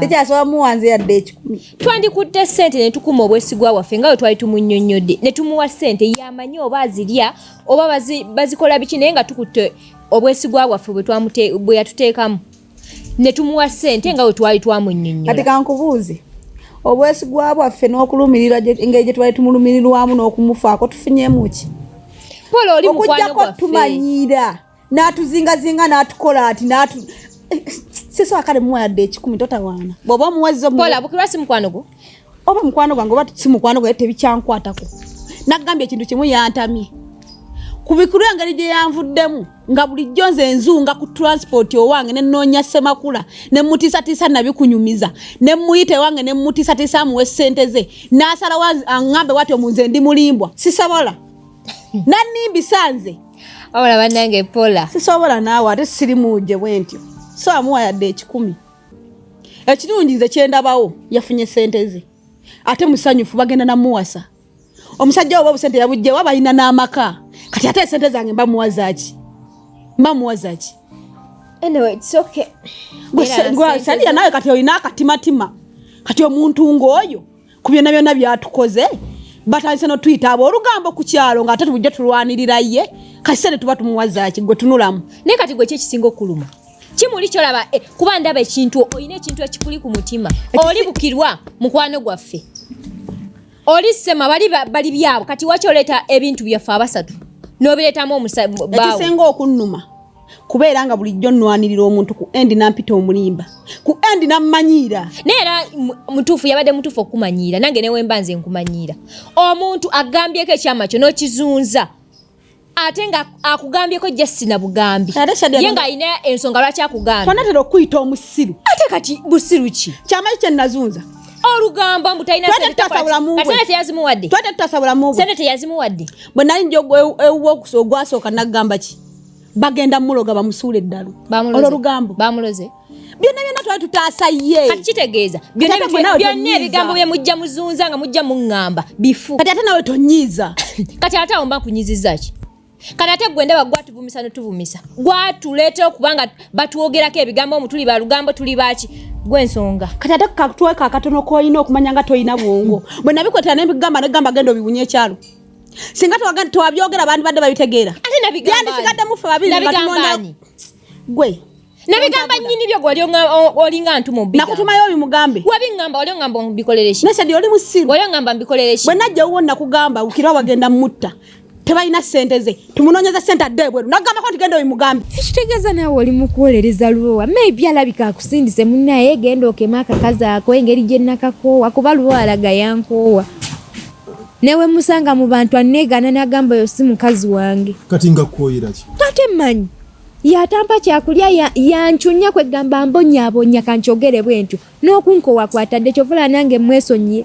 sikyasobola muwanze yadde ekikumi twandikutte ssente ne tukuma obwesigwa bwaffe nga bwe twali tumunyonnyodde ne tumuwa ssente yamanyi oba azirya oba bazikola biki naye nga tukutte obwesigwa bwaffe bwe yatuteekamu ne tumuwa ssente nga bwe twali twamunyonnyodde kati kankubuuze obwesigwa bwaffe n'okulumirirwa engeri gye twali tumulumirirwamu n'okumufaako tufunyemuki okujjako tumanyiira n'atuzingazinga n'atukola ati n'atu sisi akale muwa yadde ekikumi totawaana bw'oba omuwazza omukola bukirwa si mukwano gwo oba mukwano gwange oba si mukwano gwaye tebikyankwatako nagambye ekintu kimu yantamye kubikulu engeri gye yanvuddemu nga bulijjo nze enzunga ku transport owange ne nnoonya ssemakula ne mmutiisatiisa nabikunyumiza ne mmuyita ewange ne mmutiisatiisa amuwa essente ze n'asalawo aŋŋambe watyo mu nze ndi mulimbwa sisobola nanimbi sanze wabula banange pola sisobola naawe ate siri munje bwentyo so amuwa yadde ekikumi ekirungi nze kyendabawo yafunye sente ze ate musanyufu bagenda namuwasa omusajja oba obusente yabujjewa balina n'amaka kati ate esente zange mba muwazaki mba muwazaki saliya nawe kati olina akatimatima kati omuntu ng'oyo ku byonna byonna byatukoze batandise notuyita abo olugambo ku kyalo nga ate tubujja tulwanirira ye kasise ne tuba tumuwazaki gwe tunulamu naye kati gwe kyekisinga okuluma kimuli kyolaba eh, kuba ndaba ekintu olina ekintu ekikuli ku mutima oli bukirwa mukwano gwaffe oli sema bali bali byabo kati wakyoleeta ebintu byaffe abasatu nobireetamu omusabaekisinga okunnuma kubeera nga bulijjo nnwanirira omuntu ku endi nampita omulimba ku endi nammanyiira naye era mutuufu yabadde mutuufu okukumanyiira nange newemba nze nkumanyiira omuntu agambyeko ekyama kyo n'okizunza ate nga akugambyeko jasi na bugambi ye nga alina ensonga lwaki akugambye tonatera okuyita omusiru ate kati busiru ki kyamaki kye nazunza olugambo mbu talinasente teyazimuwadde bwe nali nja ogwasooka nagamba ki bagenda muloga bamusuule eddalu olwo lugambo bamuloze byonna byonna twali tutaasa ye kati kitegeeza byonna ebigambo bye mujja muzunza nga mujja muŋŋamba bifu kati ate nawe tonyiiza kati ate awo mba nkunyiziza ki kati ate gwe ndaba gwatuvumisa notuvumisa gwatuleetera okubanga batwogerako ebigambo omu tuli balugambo tuli baaki gwensonga kati ate kakutweka akatono kolina okumanya nga tolina bwongo bwe nabikwetera nebigamba negamba genda obiwunya ekyalo singa twabyogera abantu badde babitegeera yandisigadde mufe babiri gwe nabigamba nyini byo gwali olinga ntu mubi nakutumayo oyo mugambe wabi ngamba wali ngamba mbikolere shi nese oli musiru wali ngamba mbikolere shi bwena je uwo nakugamba ukira wagenda mutta tebalina sente ze tumunonyeza sente adde bweru nagamba kwanti genda oyo mugambe ekitegeza nawe oli mukuwolereza lubowa maybe alabika akusindise munaye genda okema akakazi ako engeri gye nakakoowa kuba lubowa alaga yankoowa newe musanga mu bantu anegana nagamba yo si mukazi wange kati nga koyira ki tate manyi yatampa kyakulya yanchunya ya kwegamba mbonyabonya kanchogere bwentyo nokunkowa kwatadde kyovula nange mwesonyiye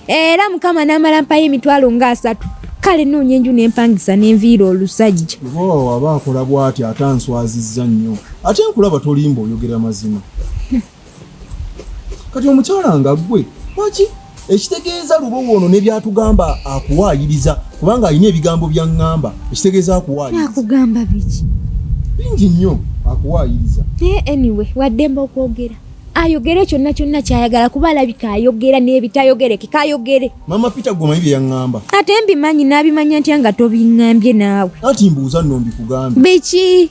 era mukama namala mpayo emitwalo nga asatu kale noonya enju nempangisa nenviira olusajja obawawa aba akola bwati ate answaziza nnyo ate nkulaba tolimba oyogera mazima kati omukyala nga gwe waki ekitegeeza lubowa ono nebyatugamba akuwaayiriza kubanga alina ebigambo byaŋŋamba ekitegeeza akuwaayirizaakugamba biki bingi nnyo akuwaayiriza naye anyway waddemba okwogera ayogere kyonna kyonna kyayagala kuba alabika ayogera n'ebitayogereke kayogere mama peter gwomanyi bye yaŋŋamba ate mbimanyi n'abimanya ntya nga tobiŋŋambye naawe anti mbuuza nno mbikugambe biki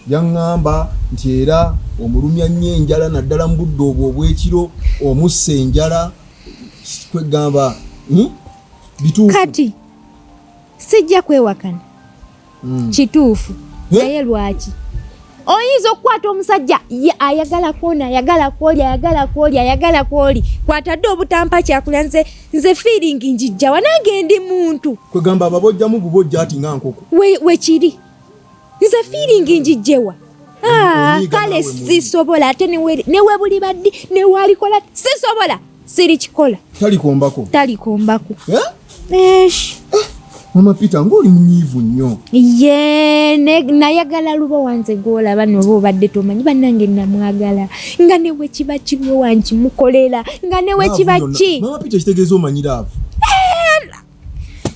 yaŋŋamba nti era omulumya nnyo enjala naddala mu budde obwo obw'ekiro omussa enjala kwegamba hmm? bituufu kati sijja kwewakana hmm. kituufu naye lwaki oyinza okukwata omusajja ayagala kwona ayagala kwoli ayagala kwoli ayagala kwoli kwatadde obutampa kyakulya nze nze fiiringi njijjawa nange ndi muntu kwegamba ababojjamu bubojja ati nga nkoko wekiri we nze fiiringi njijjewa ah, kale sisobola ate newebuli baddi newalikola sisobola sirikikola talikombako talikombako eh? esh eh, mama peter ngaoli munyiivu nnyo ye nayagala luba wanze gwolaba noba obadde tomanyi banange namwagala nga newe kiba kibi wankimukolera nga newe kiba ki mama peter kitegeeza omanyira avo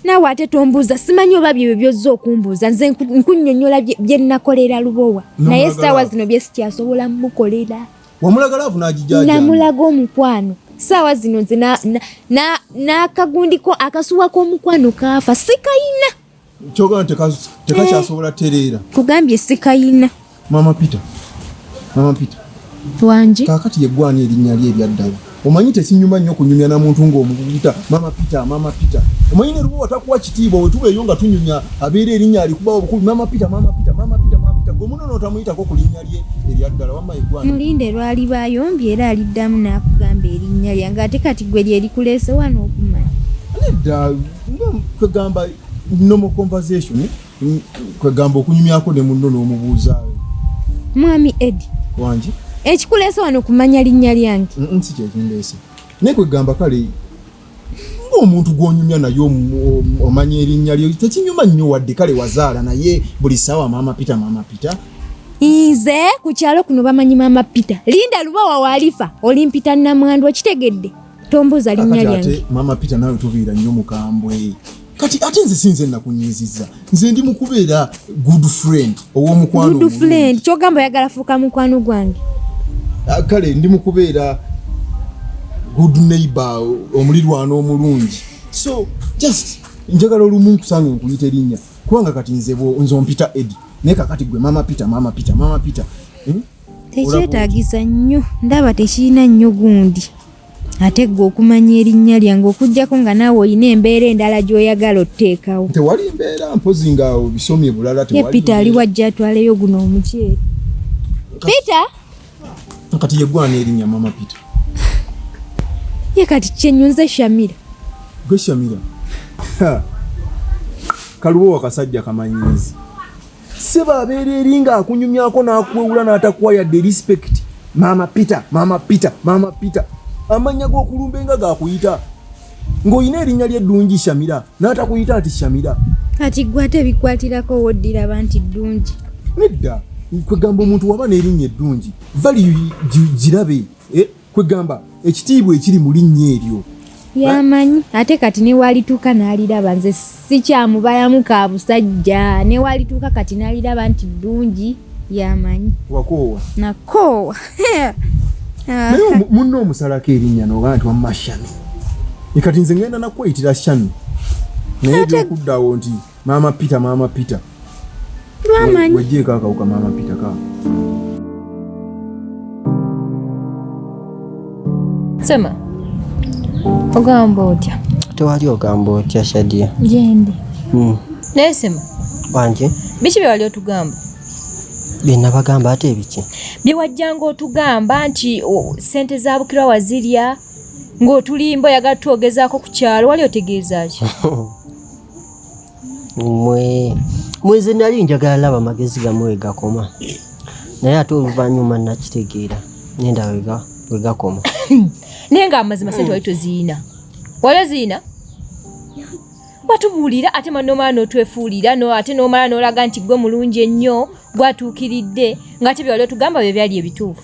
naawe ate tombuuza simanyi oba byebyo byozza okumbuuza nze nkunyonyola bye nnakolera lubowa naye essaawa zino bye sikyasobola mukolera wamulagala avunagija namulaga omukwano saawa zino nze n'akagundiko akasuwa k'omukwano kaafa sikayina Kyoga tekakyasobola eh, tereera. Kugambye sikayina. Mama Peter. Mama Peter. Wangi. Kakati yegwani erinnya lye ebyaddala. Omanyi tekinyuma nnyo kunyumya na muntu ng'omuyita Mama Peter, Mama Peter. Omanyi ne lumu watakuwa kitiibwa bwe tubeeyo nga tunyumya abeera erinnya alikuba obukulu Mama Peter, Mama Peter, Mama Peter, Mama Peter. Gwe munono otamuyitako ku linnya lye eryaddala wamma yegwani. Mulinde lwali bayombye era aliddamu n'akugamba erinnya lyange ate kati gwe lye likuleese wano okumanya. Nedda. kwegamba normal conversation kwegamba okunyumyako ne munno n'omubuuzaawo mwami edi wangi ekikuleesa wano kumanya linnya lyange nsi kyekindeese naye kwegamba kale ng'omuntu gw'onyumya naye omanya erinnya lyo tekinyuma nnyo wadde kale wazaala naye buli ssaawa maama pita maama pita nze ku kyalo kuno bamanyi maama pita linda lubawa waalifa olimpita namwandu okitegedde tombuuza linnya lyange mama peter nawe tubiira nnyo mukambwe kati ate nze sinze nakunyiziza nze ndi mukubeera good friend owomukwano good friend kyogamba oyagala fuuka mukwano gwange ah, kale ndi mukubeera good neighbor omulirwano omulungi so just njagala olumu nkusange nkuyita erinnya kubanga kati nze nze ompita edi naye kakati gwe mama peter mama peter mama peter hmm? tekyetaagisa nnyo ndaba tekirina nnyo gundi ate gwe okumanya erinnya lyange okujjako nga naawe olina embeera endala gy'oyagala otteekawo tewali mbeera mpozi nga obisomye bulala ye peter ali wajja atwaleyo guno omuceeri peter kati yegwana erinnya mama peter ye kati kyenyunze shamira gwe shamira kalubo wakasajja kamanyizi sebo abeera eri nga akunyumyako n'akuwewula n'atakuwa yadde respect maama peter maama peter maama peter amannya g'okulumba enga gakuyita ng'olina erinnya lyeddungi shamira n'atakuyita nti shamira kati gwe ate bikwatirako woddira ba nti ddungi nedda kwegamba omuntu waba n'erinnya eddungi vali girabe eh? kwegamba ekitiibwa ekiri mu linnya eryo yamanyi ate kati newalituuka naliraba nze sikyamubalamu ka busajja newalituuka kati naliraba nti ddungi yamanyi wakoowa nakoowa naye munna omusalako erinnya noga nti wamma shami ekati nze ngenda nakweyitira shami naye byokuddawo nti Mama Peter, Mama Peter. Mama. Wejie kaka uka Mama Peter kaka. Sema. Ogamba otya? Tewali ogamba otya Shadia. Jendi. Mm. Naye sema. Wanje. Biki bye wali otugamba? Bye nabagamba ate biki? Bye wajjanga otugamba nti sente za bukira wazirya ng'otulimba oyagala tuogezaako ku kyalo wali otegeeza ki? mwe mweze nali njagala laba magezi gamwe wegakoma naye ate oluvannyuma nakitegeera nenda wegakoma naye nga amazima sente wali toziina wali oziina watubuulira ate nomala notwefuulira no ate nomala nolaga nti gwe mulungi ennyo gwatuukiridde ngaate byewali otugamba bye byali ebituufu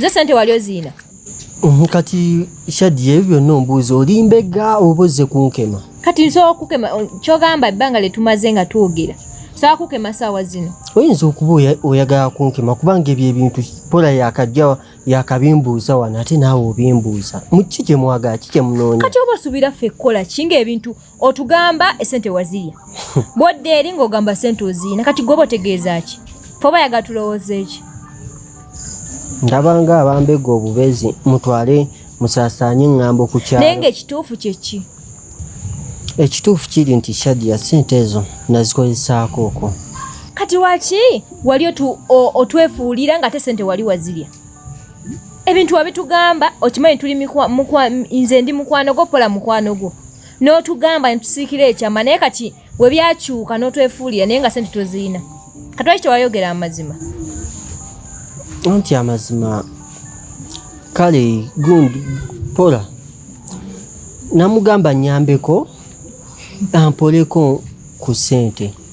ze sente wali oziina Mhm, kati Shadia, ebyo byonna ombuuza oli mbega oba ozze kunkema? Kati nsobola okukema kyogamba ebbanga lye tumaze nga twogera saa kukema saawa zino oyinza okuba oyagala kunkema kubanga ebyo ebintu pola yakajja yakabimbuuza wano ate naawe obimbuuza mukiki kyemwagala ki kyemunoonya kati oba osuubira ffe kukola ki ngaebintu otugamba esente wazirya bwodda eri ng'ogamba sente oziina kati gwoba otegeeza ki foba yaga tulowooza eki ndabanga abambega obubezi mutwale musasaanye ŋŋambo ku kyalo naye ngaekituufu kyeki ekituufu kiri nti shadia sente ezo nazikozesaako okwo kati waki wali otwefuulira nga ate sente wali wazirya ebintu wabitugamba okimanyi tuli nze ndi mukwano gwo pola mukwano gwo n'otugamba netusiikira ekyama naye kati bwe byakyuka n'otwefuulira naye nga sente tozirina katwaki tewayogera amazima anti amazima kale gund pola namugamba nyambeko ampoleko ku sente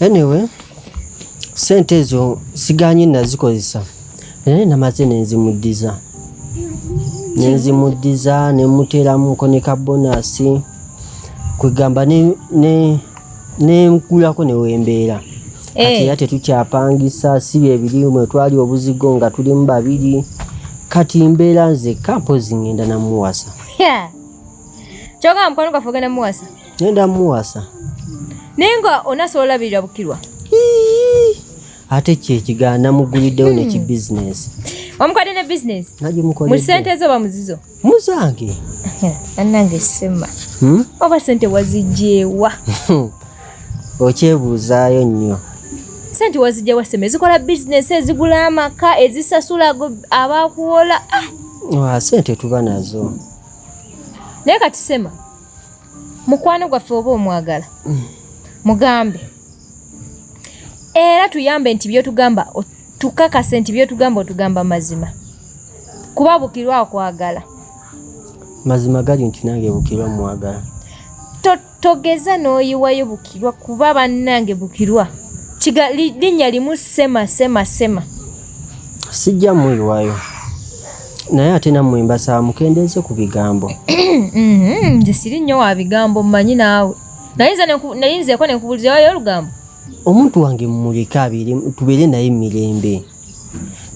anyway sente ezo siganye nazikozesa naye namaze nenzimuddiza nenzimuddiza nemuteramuko ne kabonasi kwegamba nenkulako newembeera eh. kati era tetukyapangisa si byebiri mwe twali obuzigo nga tulimu babiri kati mbeera nzekka mpozi ngenda namuwasa Kyoka mkwano gaffe ogenda muwasa? Ngenda muwasa. Naye nga onasobola olabirira Bukirwa? Ate kye ekigaana namuguliddewo hmm. neki bizinesi. Wamukwadde ne bizinesi? Nagimukoledde. Mu ssente ezo oba muzizo? Muzange. Bannange sema. Hmm? Oba sente wazigyewa? Okyebuuzaayo nnyo. Sente wazigyewa sema ezikola bizinesi ezigula amaka ezisasula abakuwola. Ah! Wa sente tuba nazo. naye kati sema mukwano gwaffe oba omwagala mm. mugambe era tuyambe nti byotugamba tukakase nti byotugamba otugamba mazima kuba bukirwa akwagala mazima gali nti nange bukirwa mwagala Togeza n'oyiwayo Bukirwa kuba bannange Bukirwa linnya limu sema sema sema. Sijja muyiwayo naye ate nammwe mbasaba mukendeeze ku bigambo. Mm-hmm. Nze siri nnyo wa bigambo mmanyi naawe naye nzeeko ne nkubuulira wayo olugambo. Omuntu wange mmuleke abeere tubeere naye mu mirembe.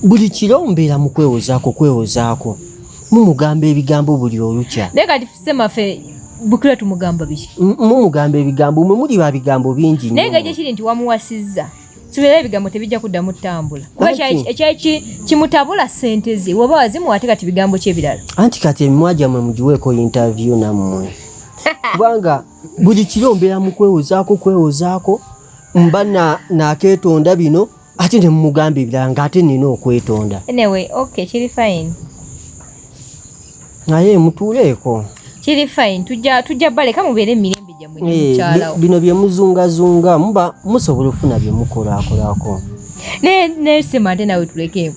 buli kiro mbeera mu kwewozaako kwewozaako mumugamba ebigambo buli olukya naye kati semafe bukira tumugamba biki mumugamba ebigambo mwe muli ba bigambo bingi naye nga gyekiri nti wamuwasizza sibeera ebigambo tebijja kuddamu tutambula kuba ekyaki kimutabula sente ze woba wazimuwa ate kati bigambo ki ebirala anti kati emimwa gyammwe mugiweeko interview nammwe kubanga buli kiro mbeera mu kwewozaako kwewozaako mba nakeetonda bino ate ne mumugamba ebirala nga ate nina okwetonda anyway okay kiri fine naye mutuuleeko kiri fine tujja tujja baleka mubeere emirembe gyammwe nemukyalawo eh, bino byemuzungazunga muba musobola okufuna byemukolaakolako naye naye sema ate nawe tulekeemu